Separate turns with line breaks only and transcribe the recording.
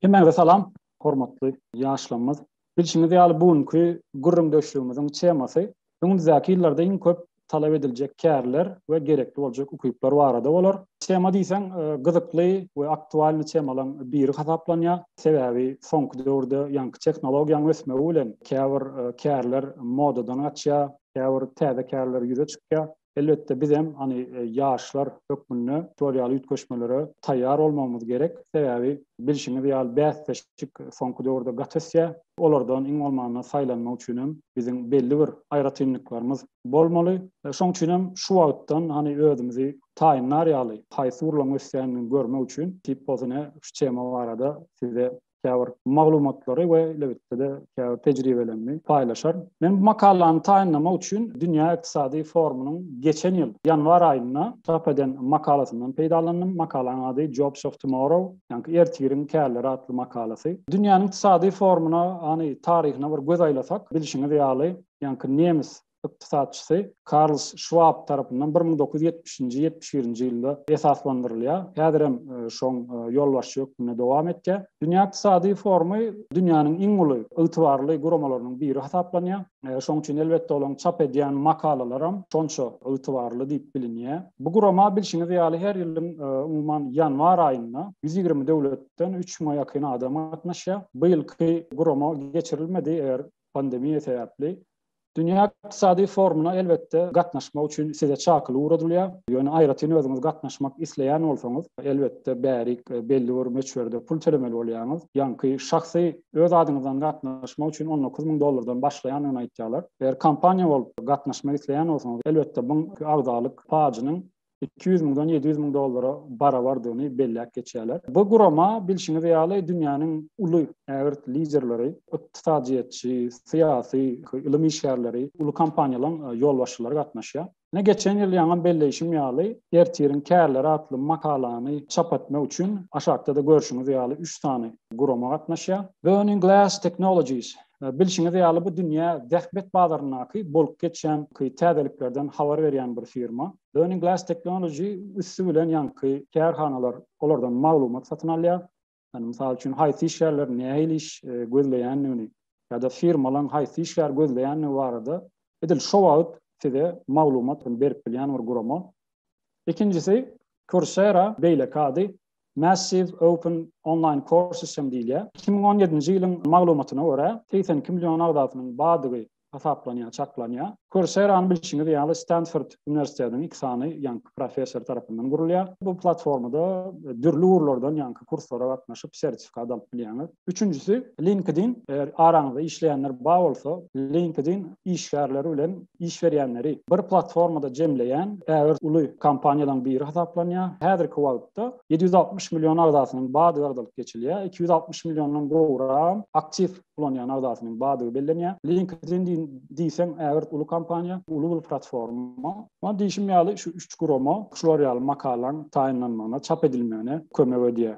Hemmäňize salam, hormatly ýaşlarymyz. Bilşiňiz ýaly, bu günki gürrüňdeşligimiziň temasy öňümizdäki ýyllarda iň köp talap ediljek kärler we gerekli boljak ukyplar barada bolar. Tema diýseň, gyzykly we aktualny temalaryň biri hasaplanýar. Sebäbi soňky döwürde ýaňky tehnologiýanyň ösmegi bilen käbir kärler modadan gaçýar, käbir täze kärler ýüze çykýar. Elbetde bizem hany ýaşlar hökmünde şolar ýaly üýtgeşmelere taýýar bolmagymyz gerek. Sebäbi bilşiňiz ýaly bäsleşik soňky döwürde gaty ösýär. Olardan iň bolmanda saýlanmak üçin hem biziň belli bir aýratynlyklarymyz bolmaly. Şoň üçin hem şu wagtdan hany özümizi taýynlar ýaly haýsy urlaň ösýändigini görmek üçin Tipp Ozone şu tema barada size käbir maglumatlary we elbetde-de käbir tejribelerini paýlaşar. Men bu makalany taýynlamak üçin Dünýä ykdysady forumynyň geçen ýyl ýanwar aýynda çap eden makalasyndan peýdalandym. Makalanyň ady Jobs of Tomorrow, ýagny ertiriň kärleri atly makalasy. Dünýäniň ykdysady forumyna, ýagny taryhyna bir göz aýlasak, bilşiňiz ýaly, ýagny nemes ykdysatçysy Karls Şwab tarapyndan bir müň dokuz ýüz ýetmişinji, ýetmiş birinji ýylda esaslandyrylýar. Häzir hem şoň ýolbaşçy hökmünde dowam etýär. Dünýä ykdysady forumy dünýäniň iň uly, ygtybarly guramalarynyň biri hasaplanýar. Şoň üçin elbetde olaryň çap edýän makalalaram şonça ygtybarly diýip bilinýär. Bu gurama bilşiňiz ýaly her ýylyň umuman ýanwar aýynda ýüz ýigrimi döwletden üç müňe ýakyn adam gatnaşýar. Bu ýylky gurama geçirilmedi eger pandemiýa sebäpli Dünýä ykdysady forumyna elbetde gatnaşmak üçin size çakyly ugradylýar. Ýöne aýratyn özüňiz gatnaşmak isleýän bolsaňyz, elbetde bärik belli bir möçberde pul tölemeli bolýaňyz. Ýaňky şahsy öz adyňyzdan gatnaşmak üçin on dokuz müň dollardan başlaýandygyny aýtýarlar. Eger kompaniýa bolup gatnaşmak isleýän bolsaňyz, elbetde buň agzalyk pajynyň iki ýüz müňden ýedi ýüz müň dollara barabardygyny belläp geçýärler. Bu gurama, bilşiňiz ýaly, dünýäniň uly ägirt liderleri, ykdysadyýetçi, syýasy, ylym işgärleri, uly kompaniýalaryň ýolbaşçylary gatnaşýar. Ine, geçen ýyl ýaňam belleýşim ýaly, Ertiriň kärleri atly makalany çap etmek üçin, aşakda-da görşüňiz ýaly, üç sany gurama gatnaşýar. Burning Glass Technologies Bilşiňiz ýaly, bu dünýä zähmet bazaryndaky bolup geçýän täzeliklerden habar berýän bir firma. Learning Glass Technology üsti bilen ýaňky kärhanalar olardan maglumat satyn alýar. Ýani, mysal üçin, haýsy işgärler nähili iş gözleýändigini ýa-da firmalaň haýsy işgär gözleýändigi barada edil şo wagt size maglumat berip bilýän bir gurama. Ikinjisi, Coursera, beýleki ady Massive Open Online Courses hem diýilýär. Iki müň on ýedinji ýylyň maglumatyna görä, segsen iki million agzasynyň bardygy hasaplanýar, çaklanýar. Coursera-ny bilşiňiz ýaly Stanford uniwersitetiniň iki sany ýaňky professory tarapyndan gurulýar. Bu platformada dürli ugurlardan ýaňky kurslara gatnaşyp, sertifikat alyp bilýäňiz. Üçünjisi, LinkedIn, eger araňyzda işleýänler bar bolsa, LinkedIn işgärleri bilen iş berýänleri bir platformada jemleýän ägirt uly kompaniýalaryň biri hasaplanýar. Häzirki wagtda ýedi ýüz altmyş million agzasynyň bardygy agzalyp geçilýär. Iki ýüz altmyş milliondan gowram aktiw ulanýan agzasynyň bardygy bellenýär. LinkedIn diýseň ägirt uly kompaniýa, uly bir platforma. Muňa diýşim ýaly, şu üç gurama şular ýaly makalaň taýynlanmagyna, çap edilmegine kömek edýär.